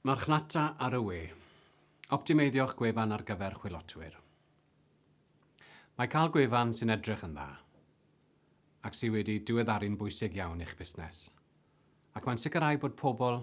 Marchnata ar y we. Optimeiddio'ch gwefan ar gyfer chwilotwyr. Mae cael gwefan sy'n edrych yn dda ac sydd wedi diweddaru'n bwysig iawn i'ch busnes, ac mae'n sicrhau bod pobl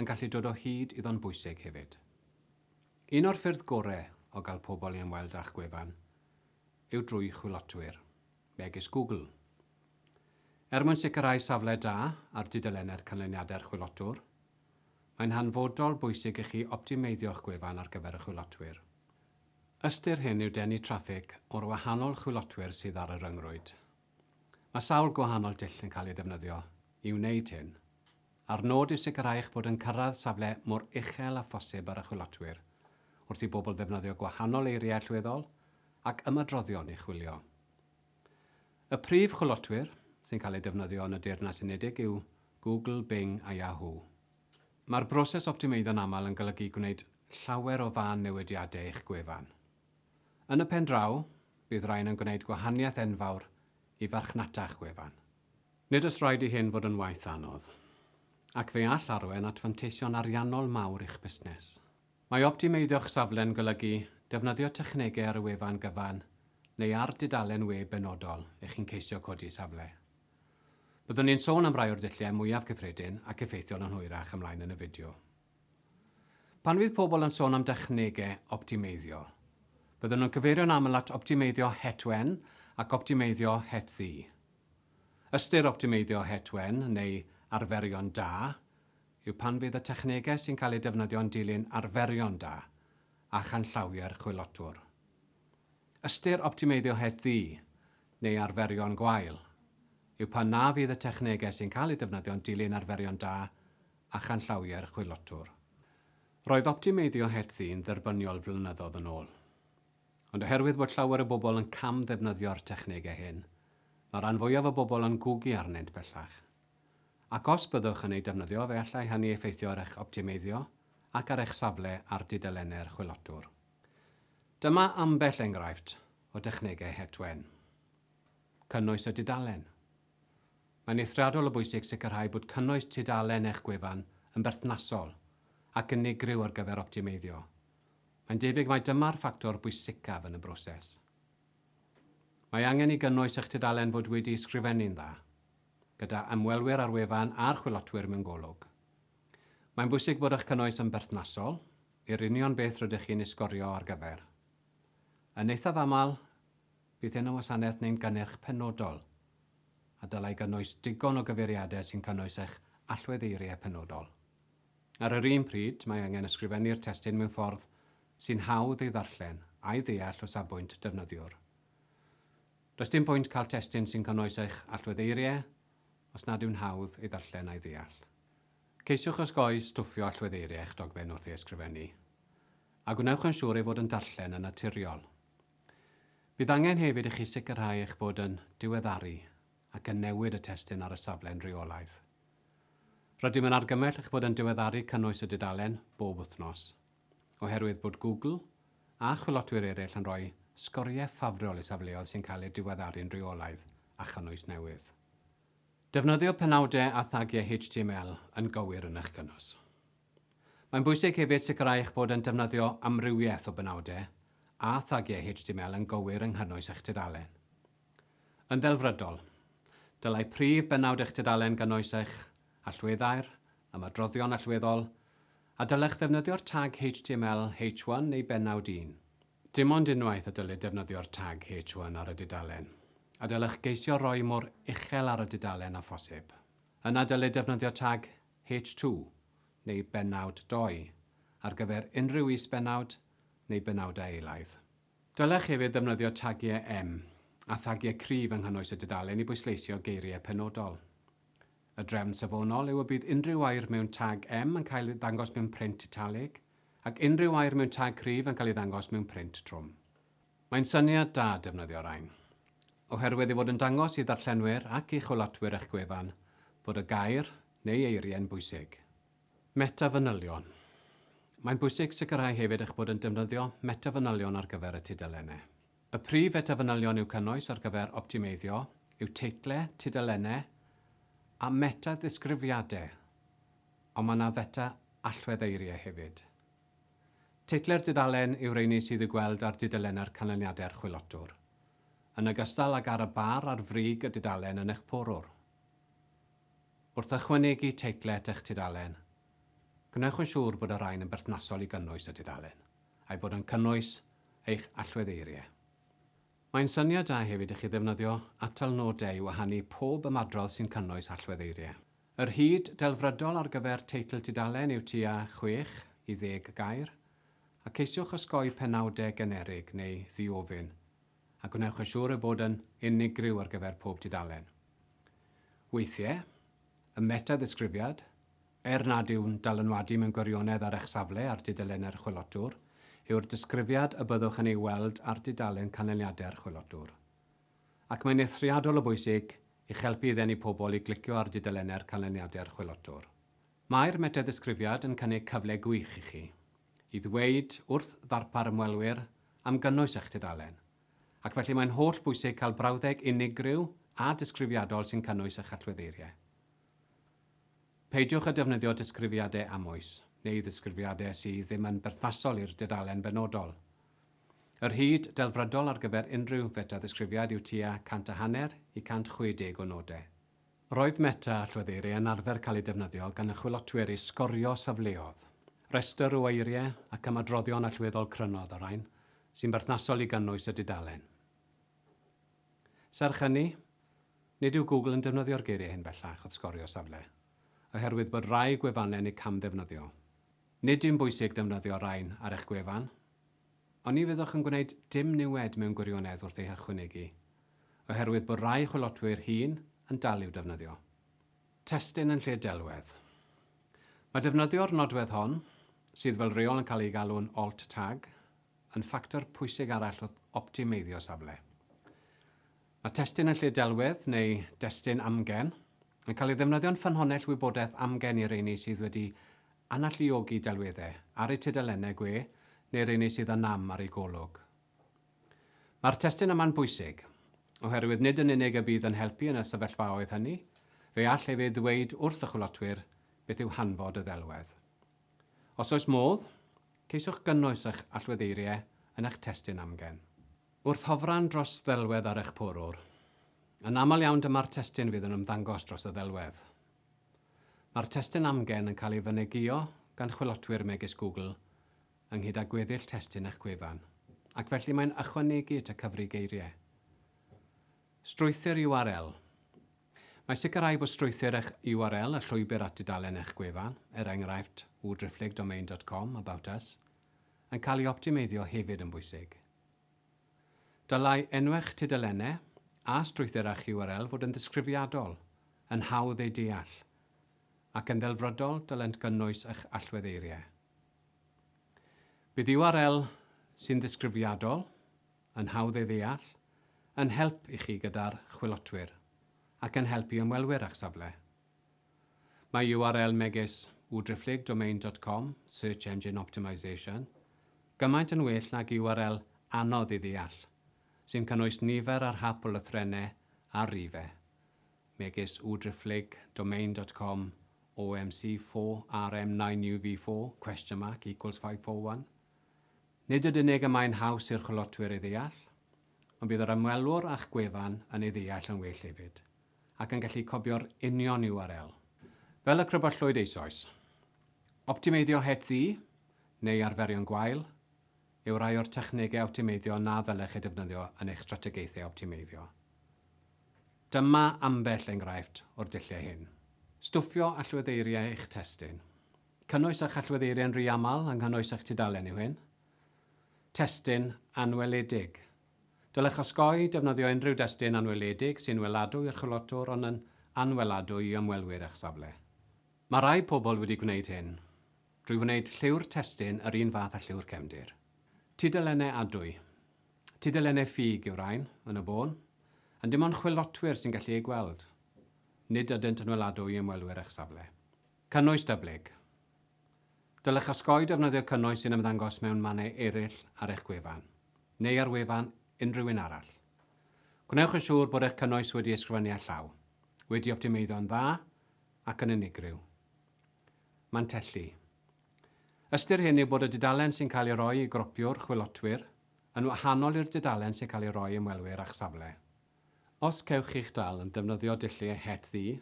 yn gallu dod o hyd iddo'n bwysig hefyd. Un o'r ffyrdd gorau o gael pobl i ymweld â'ch gwefan yw drwy chwilotwyr. megis Google. Er mwyn sicrhau safle da ar dudalennau'r canlyniadau'r chwilotwr, mae'n hanfodol bwysig i chi optimeiddio'ch gwefan ar gyfer y chwilotwyr. Ystyr hyn yw denu traffig o'r wahanol chwilotwyr sydd ar y ryngrwyd. Mae sawl gwahanol dull yn cael ei ddefnyddio i wneud hyn. a'r nod yw sicrhau eich bod yn cyrraedd safle mor uchel â phosib ar y chwilotwyr, wrth i bobl ddefnyddio gwahanol eiriau allweddol ac ymadroddion i chwilio. Y prif chwilotwyr sy'n cael eu defnyddio yn y Deyrnas Unedig yw Google, Bing a Yahoo. Mae'r broses optimeiddo'n aml yn golygu gwneud llawer o fân newidiadau i'ch gwefan. Yn y pen draw, bydd rhain yn gwneud gwahaniaeth enfawr i farchnata'ch gwefan. Nid oes rhaid i hyn fod yn waith anodd, ac fe all arwain at fanteision ariannol mawr i'ch busnes. Mae optimeiddio'ch safle'n golygu defnyddio technegau ar y wefan gyfan neu ar dudalen we benodol i chi'n ceisio codi safle. Byddwn ni'n sôn am rai o'r dulliau mwyaf cyffredin ac effeithiol yn hwyrach ymlaen yn y fideo. Pan fydd pobl yn sôn am dechnegau optimeiddio, byddwn nhw'n cyfeirio'n aml at optimeiddio het wen ac optimeiddio het ddu. Ystyr optimeiddio het wen, neu arferion da, yw pan fydd y technegau sy'n cael eu defnyddio yn dilyn arferion da a chanllawiau'r chwilotwr. Ystyr optimeiddio het ddu, neu arferion gwael, yw pan na fydd y technegau sy'n cael eu defnyddio yn dilyn arferion da a chanllawiau'r chwilotwr. Roedd optimeiddio het ddu'n dderbyniol flynyddoedd yn ôl. Ond oherwydd bod llawer o bobl yn cam-ddefnyddio'r technegau hyn, mae'r rhan fwyaf o bobl yn gwgu arnynt bellach. Ac os byddwch yn eu defnyddio, fe allai hynny effeithio ar eich optimeiddio ac ar eich safle ar dudalennau'r chwilotwr. Dyma ambell enghraifft o dechnegau het wen. Cynnwys y dudalen. Mae'n eithriadol o bwysig sicrhau bod cynnwys tudalen eich gwefan yn berthnasol ac unigryw ar gyfer optimeiddio, Mae'n debyg mai dyma'r ffactor bwysicaf yn y broses. Mae angen i gynnwys eich tudalen fod wedi ysgrifennu'n dda, gyda ymwelwyr ar wefan a'r chwilotwyr mewn golwg. Mae'n bwysig bod eich cynnwys yn berthnasol i'r union beth rydych chi'n ei sgorio ar gyfer. Yn eithaf aml, bydd hyn yn wasanaeth neu'n gynnyrch penodol, a dylai gynnwys digon o gyfeiriadau sy'n cynnwys eich allweddeiriau penodol. Ar yr un pryd, mae angen ysgrifennu'r testun mewn ffordd sy'n hawdd ei ddarllen a'i ddeall o safbwynt defnyddiwr. Does dim pwynt cael testun sy'n cynnwys eich allwedd eiriau os nad yw'n hawdd ei ddarllen a'i ddeall. Ceisiwch osgoi stwffio allwedd eiriau eich dogfen wrth ei ysgrifennu, a gwnewch yn siŵr ei fod yn darllen yn naturiol. Bydd angen hefyd i chi sicrhau eich bod yn diweddaru ac yn newid y testun ar y safle'n rheolaidd. Rydym yn argymell eich bod yn diweddaru cynnwys y dudalen bob wythnos, oherwydd bod Google a chwilotwyr eraill yn rhoi sgoriau ffafriol i safleoedd sy'n cael eu diweddaru'n rheolaidd â chynnwys newydd. Defnyddio penawdau a thagiau HTML yn gywir yn eich cynnwys. Mae'n bwysig hefyd sicrhau eich bod yn defnyddio amrywiaeth o benawdau a thagiau HTML yn gywir yng nghynnwys eich tudalen. Yn ddelfrydol, dylai prif bennawd eich tudalen gynnwys eich allweddau'r ymadroddion allweddol, a dylech ddefnyddio'r tag html h1 neu bennawd 1. Dim ond unwaith y dylid defnyddio'r tag h1 ar y dudalen, a dylech geisio roi mor uchel ar y dudalen â phosib. Yna dylid defnyddio tag h2 neu bennawd 2 ar gyfer unrhyw is-bennawd neu benawdau eilaidd. Dylech hefyd ddefnyddio tagiau em a thagiau cryf yng nghynnwys y dudalen i bwysleisio geiriau penodol. Y drefn safonol yw y bydd unrhyw air mewn tag em yn cael ei ddangos mewn print italig, ac unrhyw air mewn tag cryf yn cael ei ddangos mewn print trwm. Mae'n syniad da defnyddio rain, oherwydd ei fod yn dangos i ddarllenwyr ac i chwilotwyr eich gwefan fod y gair neu eiriau'n bwysig. Meta-fanylion Mae'n bwysig sicrhau hefyd eich bod yn defnyddio meta-fanylion ar gyfer y tudalennau. Y prif feta-fanylion i'w cynnwys ar gyfer optimeiddio yw teitlau, tudalennau a meta-ddisgrifiadau, ond mae yna feta-allwedd eiriau hefyd. Teitlau'r dudalen yw'r rheiny sydd i'w gweld ar dudalennau'r canlyniadau'r chwilotwr, yn ogystal ag ar y bar ar frig y dudalen yn eich porwr. Wrth ychwanegu teitlau at eich tudalen, gwnewch yn siŵr bod y rhain yn berthnasol i gynnwys y dudalen, a'i bod yn cynnwys eich allwedd eiriau. Mae'n syniad da hefyd i chi ddefnyddio atal nodau i wahanu pob ymadrodd sy'n cynnwys allwedd eiriau. Yr hyd delfrydol ar gyfer teitl tudalen yw tua 6 i 10 gair, a ceisiwch osgoi penawdau generig neu ddiofyn, a gwnewch yn siŵr ei bod yn unigryw ar gyfer pob tudalen. Weithiau, y meta-ddisgrifiad, er nad yw'n dylanwadu mewn gwirionedd ar eich safle ar dudalennau'r chwilotwr, yw'r disgrifiad y byddwch yn ei weld ar dudalen canlyniadau'r chwilotwr. Ac mae'n eithriadol o bwysig i'ch helpu i ddenu pobl i glicio ar dudalennau'r canlyniadau'r chwilotwr. Mae'r metaddisgrifiad yn cynnig cyfle gwych i chi i ddweud wrth ddarpar ymwelwyr am gynnwys eich tudalen, ac felly mae'n holl bwysig cael brawddeg unigryw a disgrifiadol sy'n cynnwys eich allweddeiriau. Peidiwch â defnyddio disgrifiadau amwys, neu ddisgrifiadau sydd ddim yn berthnasol i'r dudalen benodol. Yr hyd delfrydol ar gyfer unrhyw fetaddisgrifiad yw tua 100 a hanner i 160 o nodau. Roedd Meta Allweddir yn arfer cael ei defnyddio gan y chwilotwyr i sgorio safleoedd. Rhestr o eiriau ac ymadroddion allweddol crynodd y rhain sy'n berthnasol i gynnwys y dudalen. Serch hynny, nid yw Google yn defnyddio'r geiriau hyn bellach wrth sgorio safle, oherwydd bod rhai gwefannau'n eu camddefnyddio. Nid yw'n bwysig defnyddio rhain ar eich gwefan, Ond ni fyddwch yn gwneud dim niwed mewn gwirionedd wrth ei hychwynegu, oherwydd bod rhai chwilotwyr hŷn yn dal i'w defnyddio. Testun yn lle'r delwedd. Mae defnyddio'r nodwedd hon, sydd fel rheol yn cael ei galw'n alt tag, yn ffactor pwysig arall wrth optimeiddio safle. Mae testun yn lle'r delwedd, neu destun amgen, yn cael ei ddefnyddio'n ffynhonnell wybodaeth amgen i reini sydd wedi Analluogi delweddau ar eu tudalennau gwe neu rheiny sydd â nam ar eu golwg. Mae'r testun yma'n bwysig, oherwydd nid yn unig y bydd yn helpu yn y sefyllfaoedd hynny, fe all hefyd ddweud wrth y chwilotwyr beth yw hanfod y ddelwedd. Os oes modd, ceisiwch gynnwys eich allweddeiriau yn eich testun amgen. Wrth hofran dros ddelwedd ar eich porwr. Yn aml iawn dyma'r testun fydd yn ymddangos dros y ddelwedd. Mae'r testun amgen yn cael ei fynegiio gan chwilotwyr megis Google ynghyd â gweddill testun eich gwefan, ac felly mae'n ychwanegu at y cyfri geiriau. Strwythur URL Mae sicrhau bod strwythur eich URL, y llwybr at dudalen eich gwefan, er enghraifft, www-driphlyg-domain dot com, about us, yn cael ei optimeiddio hefyd yn bwysig. Dylai enw'ch tudalennau a strwythura'ch URL fod yn ddisgrifiadol, yn hawdd eu deall, ac yn ddelfrydol dylent gynnwys eich allwedd eiriau. Bydd URL sy'n ddisgrifiadol, yn hawdd ei ddeall, yn help i chi gyda'r chwilotwyr, ac yn help i ymwelwyr â'ch safle. Mae url megis udriphlegdomain dot com, search engine optimisation, gymaint yn well nag url anodd i ddeall, sy'n cynnwys nifer ar hap o lythrennau ar rife, megis udriphlegdomain dot com OMC 4 RM 9 UV 4 question mark equals 541. Nid yd unig y mae'n haws i'r chwilotwyr ei ddeall, ond bydd yr ymwelwr â'ch gwefan yn ei ddeall yn well hefyd. ac yn gallu cofio'r union URL, fel y Crybwyllwyd eisoes. Optimeiddio het ddu, neu arferion gwael, yw rai o'r technegau optimeiddio na ddylech eu defnyddio yn eich strategaethau optimeiddio. Dyma ambell enghraifft o'r dulliau hyn. Stwffio allweddeiriau eich testun. Cynnwys eich allweddeiriau'n rhy aml yng nghynnwys eich tudalen yw hyn. Testun anweledig. Dylech osgoi defnyddio unrhyw destun anweledig sy'n weladwy i'r chwilotwr ond yn anweladwy i ymwelwyr eich safle. Mae rhai pobl wedi gwneud hyn drwy wneud lliw'r testun yr un fath â lliw'r cefndir. Tudalennau adwy. Tudalennau ffug yw'r rhain, yn y bôn, ond dim ond chwilotwyr sy'n gallu eu gweld. Nid ydynt yn weladwy i ymwelwyr eich safle. Cynnwys dyblyg. Dylech osgoi defnyddio cynnwys sy'n ymddangos mewn mannau eraill ar eich gwefan, neu ar wefan unrhyw un arall. Gwnewch yn siŵr bod eich cynnwys wedi ei sgrifennu â llaw, wedi optimeiddo'n dda ac yn unigryw. Mantelli. Ystyr hyn yw bod y dudalen sy'n cael ei roi i gropiwr, chwilotwyr, yn wahanol i'r dudalen sy'n cael ei roi i ymwelwyr â'ch safle. Os cewch chi'ch dal yn defnyddio dulliau het ddu,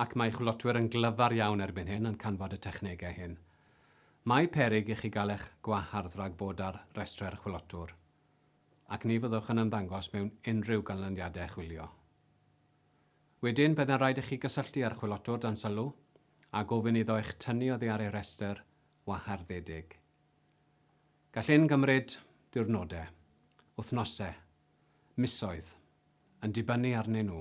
ac mae chwilotwyr yn glyfar iawn erbyn hyn yn canfod y technegau hyn, mae peryg i chi gael eich gwahardd rhag bod ar restrau'r chwilotwr, ac ni fyddwch yn ymddangos mewn unrhyw ganlyniadau chwilio. Wedyn, byddai'n rhaid i chi gysylltu â'r chwilotwr dan sylw a gofyn iddo eich tynnu oddi ar ei restr waharddedig. Gall hyn gymryd diwrnodau, wythnosau misoedd, yn dibynnu arnyn nhw.